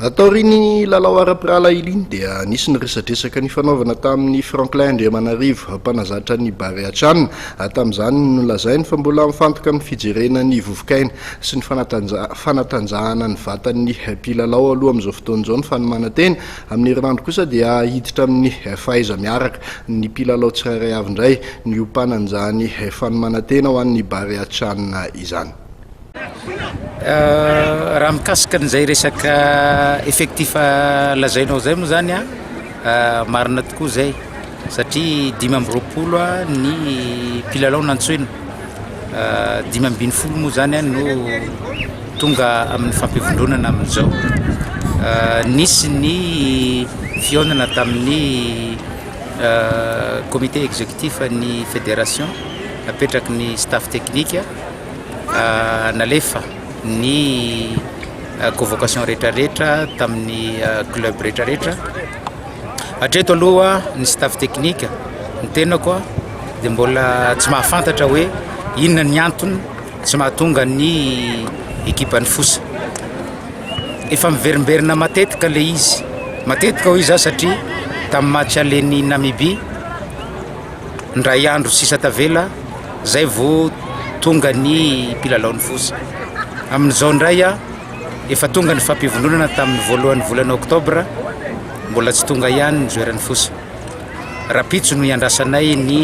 Taorian'ny lalao ara-pirahalahy iliany dia nisy ny resadresaka nifanaovana tamin'i Franklin Andriamanarivo, mpanazatra ny Barea Chan. Tamin'izany no nolazainy fa mbola mifantoka amin'ny fijerena ny vovokaina sy ny fanatanjahana ny vatan'ny mpilalao aloha amin'izao fotoana izao ny fanomanan-tena. Amin'ny herinandro kosa dia hiditra amin'ny fahaiza-miaraka ny mpilalao tsirairay avy indray ny hiompanan' izany fanomanan-tena ho an'ny Barea Chan izany. Raha mikasika an'izay resaka effectif lazainao izay moa zany an, marina tokoa izay satria dimy amby roapolo ny mpilalao nantsoina, dimy ambin'ny folo moa zany an no tonga amin'ny fampivondronana amin'izao, nisy ny fihaonana tamin'ny comité executif an'ny federation napetraky ny staff technique. Nalefa ny convocation rehetrarehetra tamin'ny club rehetrarehetra. Hatreto aloha ny staff technique ny tenako dia mbola tsy mahafantatra hoe inona ny antony tsy mahatonga ny ekipan'ny fosa. Efa miverimberina matetika ilay izy, matetika hoy izaho satria tamin'ny match aller-n'i Namibia. Indray andro sisa tavela zay vo tonga ny mpilalao ny foza. Amin'izao indray efa tonga ny fampivondronana tamin'ny voalohan'ny volana oktobra, mbola tsy tonga ihany ny joeran'ny foza. Rapitso no iandrasanay ny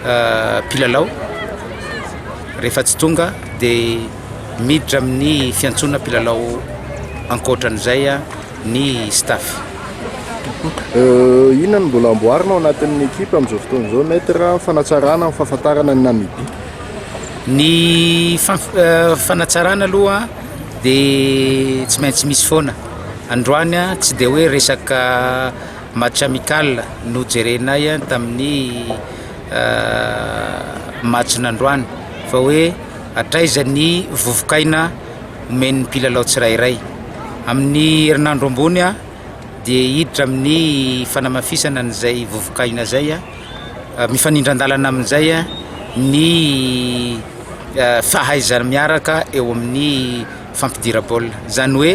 ah, mpilalao, rehefa tsy tonga dia miditra amin'ny fiantsoana mpilalao ankoatran'izay ny staff. Inona no mbola amboarina ao anatin'ny ekipa amin'izao fotoana izao Maître amin'ny fanatsarana ny fahafantarana ny Namibie? Ny fanatsarana aloha dia tsy maintsy misy foana. Androany tsy dia hoe resaka match amical no jerenay tamin'ny match-n'androany fa hoe hatraiza ny vovoka aina. omen'ny mpilalao tsirairay. Amin'ny herinandro ambony dia hiditra amin'ny fanamafisana an'izay vovoka-aina izay, mifanindran-dalana amin'izay ny fahaizana miaraka eo amin'ny fampidira baolina, izany hoe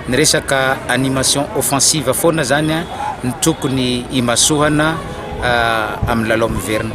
ny resaka animation offensive foana izany no tokony himasohana amin'ny lalao miverina.